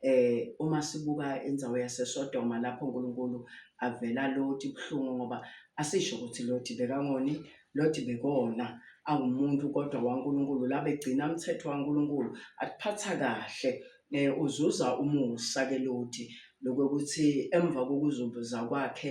Eh, uma sibuka indzawo yaseSodoma lapho uNkulunkulu avela Loti buhlungu ngoba asisho ukuthi Loti bekangoni, Loti bekona awumuntu kodwa waNkulunkulu labegcina umthetho waNkulunkulu akuphatha kahle eh uzuza umusa ke Loti lokuthi emva kokuzuza kwakhe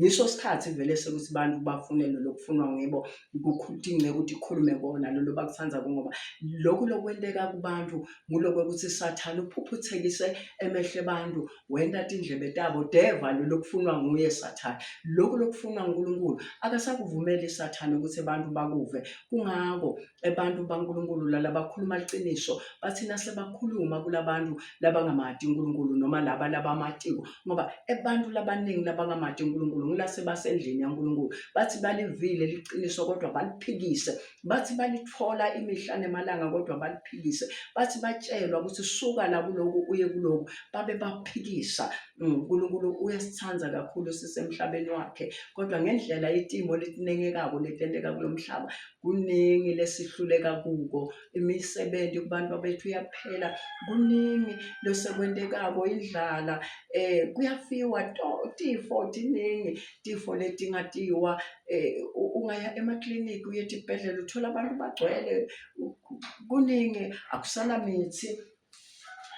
ngisho isikhathi vele sokuthi abantu bafune lolo kufunwa ngibo kukhudinge ukuthi ikhulume kona lolo bakuthanda ngoba lokhu lokwenteka kubantu ngulokwe ukuthi sathana uphuphuthekise emehle abantu wenda indlebe tabo deva lolo kufunwa nguye sathana lokhu lokufunwa uNkulunkulu akasakuvumeli sathana ukuthi abantu bakuve kungako abantu baNkulunkulu lalabakhuluma liqiniso bathina sebakhuluma kulabantu labangamati uNkulunkulu noma laba labamatiko ngoba abantu labaningi labangamati uNkulunkulu ngilase basendlini yaNkulunkulu bathi balivile liqiniso kodwa baliphikise bathi balithola imihla nemalanga kodwa baliphikise bathi batshelwa ukuthi suka la kuloku uye kuloku babe baphikisa mm, uNkulunkulu uyasithanda kakhulu sisemhlabeni wakhe kodwa ngendlela itimo litinengekako letenteka kulomhlaba kuningi lesihluleka kuko imisebenzi kubantu abethu iyaphela kuningi losekwentekako indlala eh kuyafiwa tifo tiningi tifo letingatiwa eh ungaya emakliniki uye tibhedlela uthola abantu bagcwele kuningi akusana mithi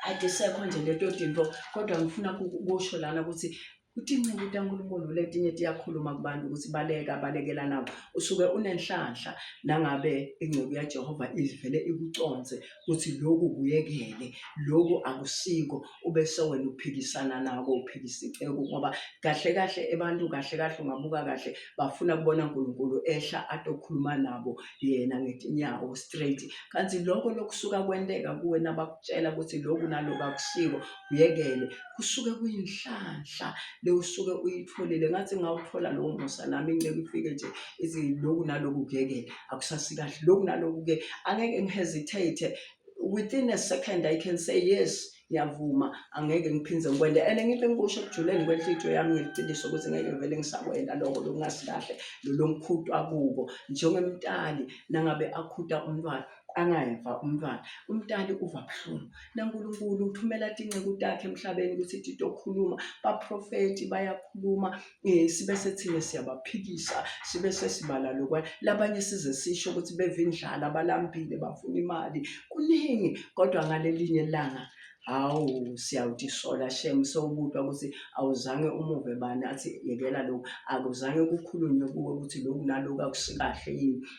ayisekho nje leto tinto kodwa ngifuna kusho lana ukuthi uthi inceku likaNkulunkulu letinye tiyakhuluma kubantu ukuthi baleka balekela nabo usuke unenhlanhla nangabe ingceku yaJehova ivele ikuconse ukuthi lokhu kuyekele lokhu akusiko ube sewena uphikisana nako uphikisa icebo ngoba kahle kahle abantu kahle kahle ungabuka kahle bafuna kubona uNkulunkulu ehla atokhuluma nabo yena ngetinyawo straight kanti lokho lokusuka kwenteka kuwena bakutshela ukuthi lokhu nalokhu akusiko uyekele kusuke kuyinhlanhla le usuke uyitholile ngathi ngawuthola lowo musa nami inceke ifike nje ithi loku naloku kuyekele akusasi kahle loku naloku-ke angeke ngihesitate within a second i can say yes ngiyavuma angeke ngiphinde ngikwende and ngibe ngikusho ekujuleni kwenhlithiyo yami ngeliqiniso ukuthi ngeke vele ngisakwenda lokho lokungasi kahle lolomkhutwa kubo njengemtali nangabe akhuta umntwana angayeva umntwana umntali uva buhlungu nankulunkulu uthumela tinceku takhe emhlabeni ukuthi tito khuluma baprofethi bayakhuluma um sibe sethina siyabaphikisa sibe sesibala lokwana labanye size sisho ukuthi beva indlala balambile bafuna imali kuningi kodwa ngalelinye langa hawu siyawutisola shem sewubutwa ukuthi awuzange umuve bani athi yekela lokhu akuzange kukhulunywe kuwe ukuthi lokhu nalokhu akusikahle yini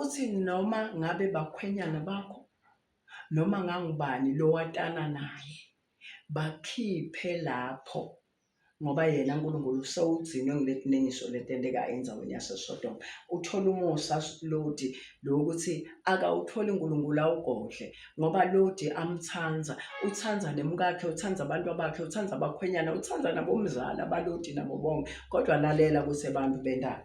Uthi noma ngabe bakhwenyana bakho noma ngangubani lowatana naye bakhiphe lapho ngoba yena uNkulunkulu usewugcine ngiletinengiso letenteka endzaweni yaseSodoma. Uthole umusa Loti lokuthi akawutholi uNkulunkulu awugodle ngoba Loti amthanda, uthanda nemkakhe, uthanda abantu bakhe, uthanda abakhwenyana, uthanda nabomzala baLoti nabo bonke. Kodwa lalela kuthi abantu bendalo.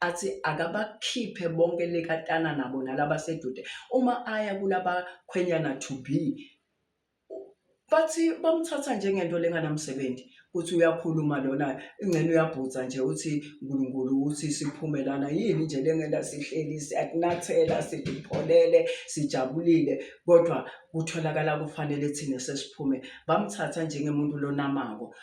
athi akabakhiphe bonke lekatana nabo nalaba sedude uma aya kulaba khwenyana to be bathi bamthatha njengento lenganamsebenzi uthi uyakhuluma lona ingcene uyabhutha nje uthi uNkulunkulu ukuthi siphume lana yini nje lengela sihleli siyakunathela sidipholele sijabulile kodwa kutholakala kufanele thina sesiphume bamthatha njengemuntu lonamako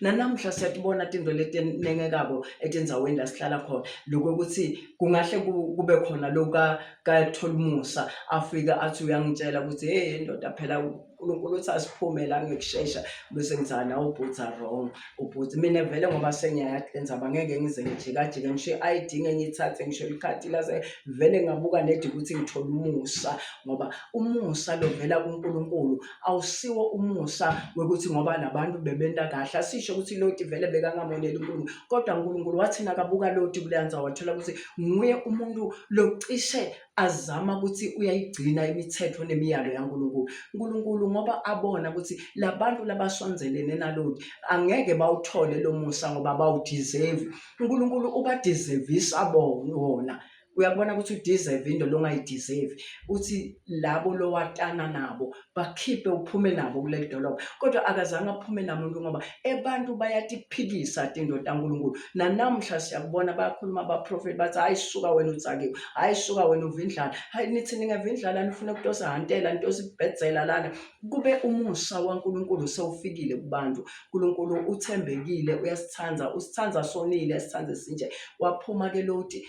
nanamhla siyatibona tinto letinengekako etindzaweni la sihlala khona loko kutsi kungahle kube khona loka kaTholimusa afika athi uyangitshela ukuthi hey ndoda phela uNkulunkulu uthi asiphume la ngikushesha bese ngizana ubhutha wrong ubhutha mina vele ngoba sengiyayathi lenzaba ngeke ngize ngijikajike ngisho i-ID ngenye ithathe ngisho ikhadi lase vele ngabuka nedi ukuthi ngithole umusa ngoba umusa lovela kuNkulunkulu awusiwo umusa wokuthi ngoba nabantu bebenta kahle asisho ukuthi loti vele bekangamoneli unkulunkulu kodwa unkulunkulu wathi nakabuka loti kuleyanza wathola ukuthi nguye umuntu locishe azama ukuthi uyayigcina imithetho nemiyalo yankulunkulu unkulunkulu ngoba abona ukuthi labantu labasondelene naloti angeke bawuthole lo musa ngoba bawudizevi unkulunkulu ubadizevisa bona uyakubona ukuthi udeserve into longayideserve uthi labo lowatana nabo bakhiphe uphume nabo kuleli dolobha kodwa akazange aphume namuntu ngoba abantu bayatiphikisa tinto tankulunkulu nanamhla siyakubona bayakhuluma abaprofethi bathi hayi suka wena utsakiwe hayi suka wena uvindlala hayi nithi ningavindlala nifuna kutosa hantela ntosa ibhedzela lana kube umusa wankulunkulu sewufikile kubantu nkulunkulu uthembekile uyasithanda usithanda sonile sithanda sinje waphuma ke loti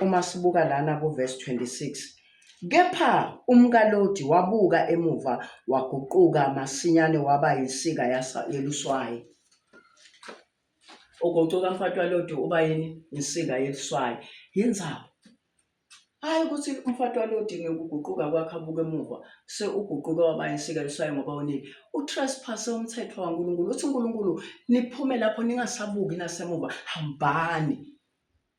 uma sibuka lana kuverse 26, Kepha umkaLodi wabuka emuva waguquka masinyane waba yinsika yasa- yeluswayi. Uguquka mfati waLodi uba yini? Insika yeluswayi. Yenzaba. Hhayi ukuthi umfati waLodi ngokuguquka kwakhe abuke emuva se uguquke waba yinsika yeluswayi ngoba unile. Utrespasse umthetho waNkulunkulu. Uthi uNkulunkulu niphume lapho ningasabuki nasemuva, hambani.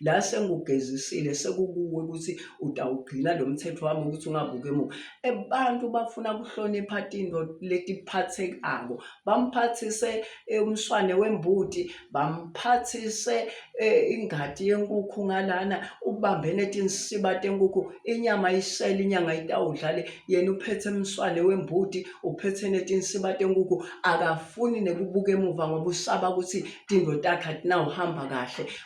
la sengugezisile sekukuwe ukuthi utawugcina lo mthetho wami ukuthi ungabuki emuva abantu bafuna kuhlonipha tinto letiphathekako bamphathise eh, umswane wembuti bamphathise eh, ingadi yenkukhu ngalana ubambene tinsiba tenkukhu inyama isele inyanga itawudlale yena uphethe umswane wembuti uphethe netinsiba tenkukhu akafuni nekubuka emuva ngoba usaba ukuthi tinto takhe atinawuhamba kahle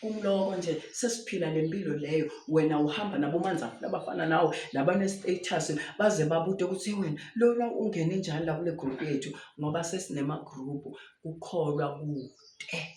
kumloko nje sesiphila le mpilo leyo wena uhamba nabomanzana labafana nawo nabanestatus baze babute ukuthi wena lona ungene njani la kule group yethu ngoba sesinema-group kukholwa kude